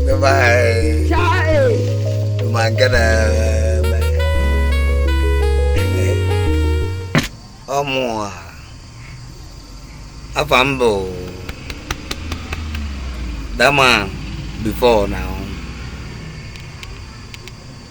Goodbye. Magana. Ọ mụ a. Afa m bụ Dama before now.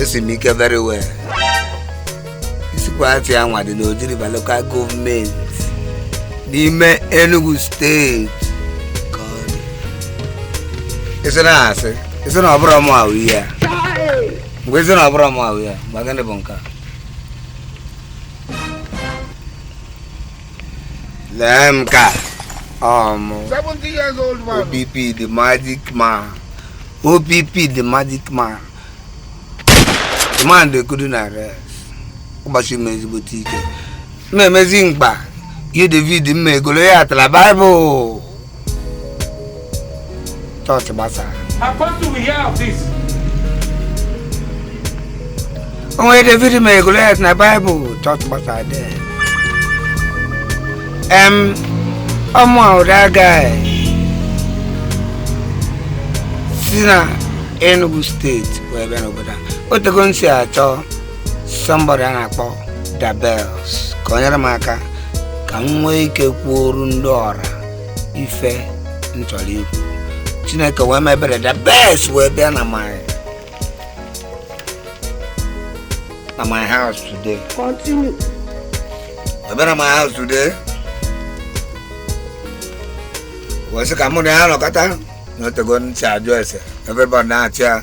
esi m ike very well Isikwe Achi anwa dị n'Oji River local gọọmenti n'ime Enugu steeti ka ọ dị. ị sị na asị ị sị na ọ bụrụ mụ ahụ ihe a mgbe ị sị na ọ bụrụ mụ ahụ ihe a mgbe gịnị bụ nke a lee m ka um, OPP the magic man OPP the magic man the man they couldn't arrest Ọbasị m ezigbote ike m na-emezi mkpa ihe David mere Goliat na Bible chọọchị agbasaa o nwere david mere goliat na baịbụl chọọchị agbasaa dị em ọ mụ a ụda aga si na enugu steeti wee bịa n'obodo a otego m si achọ somebody a na-akpọ dabels ka o nyere m aka ka m nwee ike kwuoru ndị ọra ife m chọrọ ikwu chineke wee mee ebere dabels wee bịa na my na my house today Continue. wee bịa na my house today wee sị ka mụ na ya nọkọta na otego m ji achọ ese everybody na-achị ya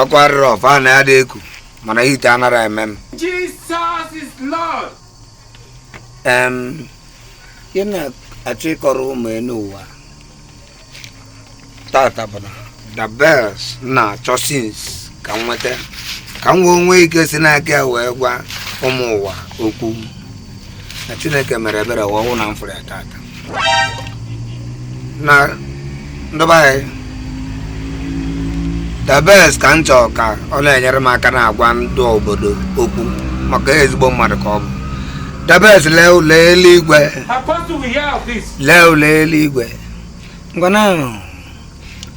ọkụ arịrị ọfa na ya dị eku mana hit anara eme m Jesus is Lord. em ị na-achọ ịkọrọ ụmụ enu ụwa tata bụ na dabels m na-achọ since ka m nweta ka m wee nwee ike si n'aka ya wee gwa ụmụ ụwa okwu na chineke mere ebere wee wụ na m fụrụ ya tata na ndị be anyị dabels ka m chọọ ka ọ na-enyere m aka na-agwa ndị obodo okwu maka ezigbo mmadụ ka ọ bụ dabels lee ụlọ eluigwe Apostle, we hear of this. lee ụlọ eluigwe ngwana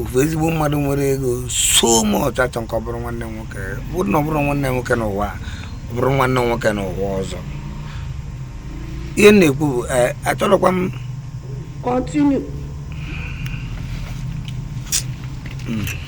ofu ezigbo mmadụ nwere ego so much achọ m ka ọ bụrụ nwanne m nwoke bụrụ na ọ bụrụ nwanne m nwoke n'ụwa ọ bụrụ nwanne m nwoke n'ụwa ọzọ ihe m na-ekwu bụ eh, achọrọkwa m kọntinu hmm.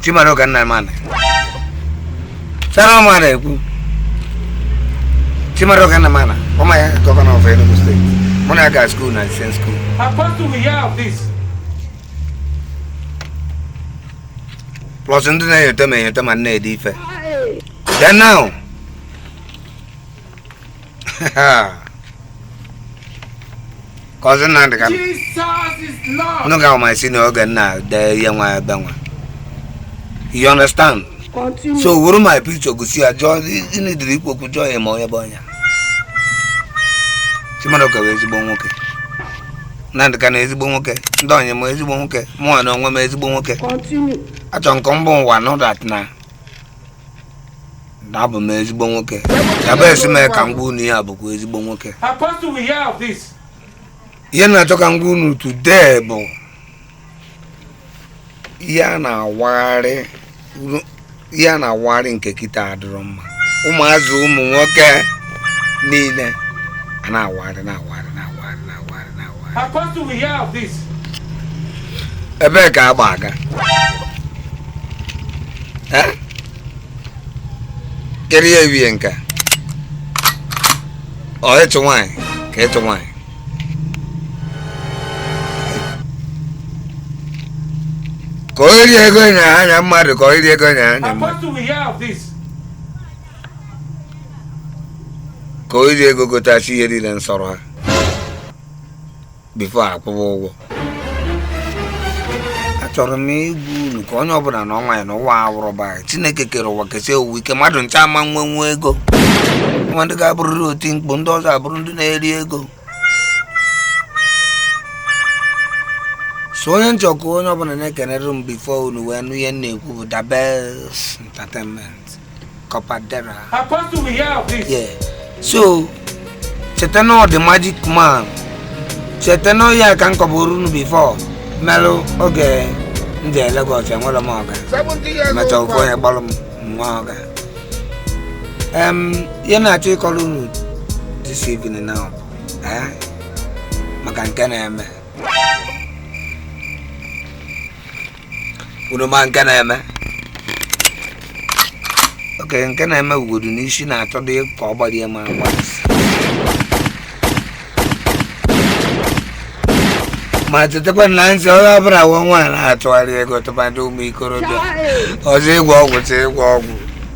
Chimaroke Nnamani sara ọma na-ekwu Chimaroke Nnamani former gọvanọ of Enugu steeti mụ na ya gara skuul na same skuul plus ndị na-enyote ma enyote ma na-ede ife then now cousin Nnamdi Kanu ga ma si n'oge m na-ede ihe nwa ebe nwa you understand so were my picture gosi ya jụọ ịnidiri ikwu okwu jụọ ya ma onye bụ onye Chimaroke bụ ezigbo nwoke Nnamdi Kanu ezigbo nwoke ndị onye m ezigbo nwoke mụnwa na onwe m ezigbo nwoke achọrọ m ka m gwa unu dat na abụ m ezigbo nwoke ebe esi mee ka m gwa unu ya bụkwa ezigbo nwoke ihe m na-achọ ka m gwa unu today bụ ihe a na-awagharị ihe a na-awagharị nke kịta adịrọ mma ụmụazị ụmụ nwoke niile a na-awagharị na-awagharị na-awagharị na-awagharị ebee ka agba aga kedu ihe ewie nke ọ ịchụ nwaanyị ka ịchụ nwaanyị ka o rie ego nya anya mmadụ ka o rie ego nya anya mmadụ ka o rie ego gotachi ihe niile nsọrọ ha bifo akwụwa ụgwọ achọrọ m ịgwa unu ka onye ọbụla nọ onwe ya na ụwa awụrụ ba chineke kere ụwa kesie ụwa ike mmadụ ncha ama nwe nwe ego nwee ndị ga-abụrịrị oti mkpu ndị ọzọ abụrụ ndị na-eri ego so onye m chọ ka onye ọbụla na-ekenere m bifo unu wee nụ ihe m na-ekwu bụ dabes entertainment Kapadera. Apostle, we hear of this. Yeah. So, cheta na ọ the magic man. Cheta na ya ka m kọbụrụ unu before. Melụ oge m jere Lagos enwere m ọga. Mechaa ofu onye gbalụ m nwa ọga. Em, ihe m na-achọ ịkọrọ unu this evening now. Eh? Maka nke na-eme. unu ma nke na-eme okay nke na-eme ugodu n'isi na-achọ dị ka ọ gbarie ma agba ma chetakwa na m sị onye ọbụla wụ nwa na-achọgharị ego tụmadị ụmụ ikorobịa ọ zị ịgwọ ọgwụ ọ zị ịgwọ ọgwụ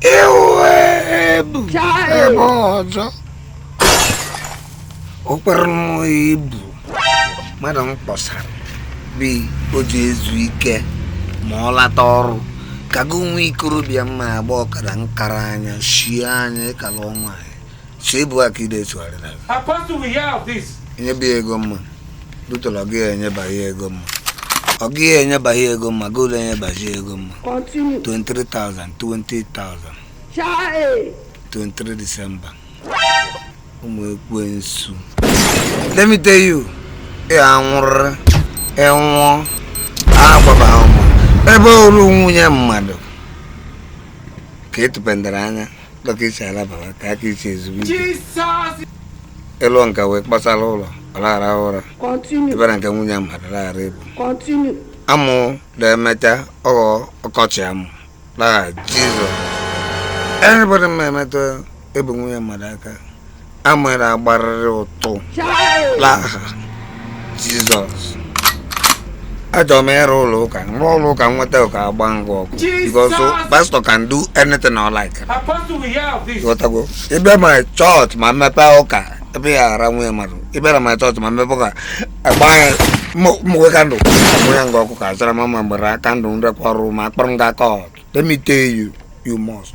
iwe ebu ebe ọjọọ o kwere m ibu mmadụ m kpọsara bi o ji ezu ike ma ọ lata ọrụ ka gị nwa ikorobịa mma agba ọkada nkara anya shie anya ịkala ọnwa anyị so ịbụ aka ide esogharị na gị Apostle will hear of this. enyeba ya ego mma dutọrọ ọ gịghị enyeba ya ego mma ọ gịghị enyeba ya ego mma goolu enyebazi ya ego mma Continue. 23,000 20,000 Chai. 23 December ụmụ ekwensu let me tell you ị anwụrịrị ị nwụọ agbaba ụmụ ebe oru nwunye mmadụ ka etupendara anya dọka isi alabara ka aka isi ezigbo ike ịlụ nka wee kpasara ụlọ ọ laghara ụra ebe na nke nwunye mmadụ laghara ebu amụ na-emecha ọ ghọọ ọkọchị amụ l'aha jizọs anybody ma emetụ ebu nwunye mmadụ aka amara agbarịrị ụtụ l'aha jizọs achọrọ m ịrụ ụlọ ụka rụọ ụlọ ụka nweta ụka agba ngwa ọkụ because pastor can do anything I like ghọtago ị bịa my church ma m mepe ụka ebe ya ara nwunye mmadụ ị bịara my church ma m mepe ụka agba ya mgbere kandụl agba ya ngwa ọkụ ka azara mama mgbere kandụl nrekwa ọrụ ma akpọrọ m ga court let me tell you you must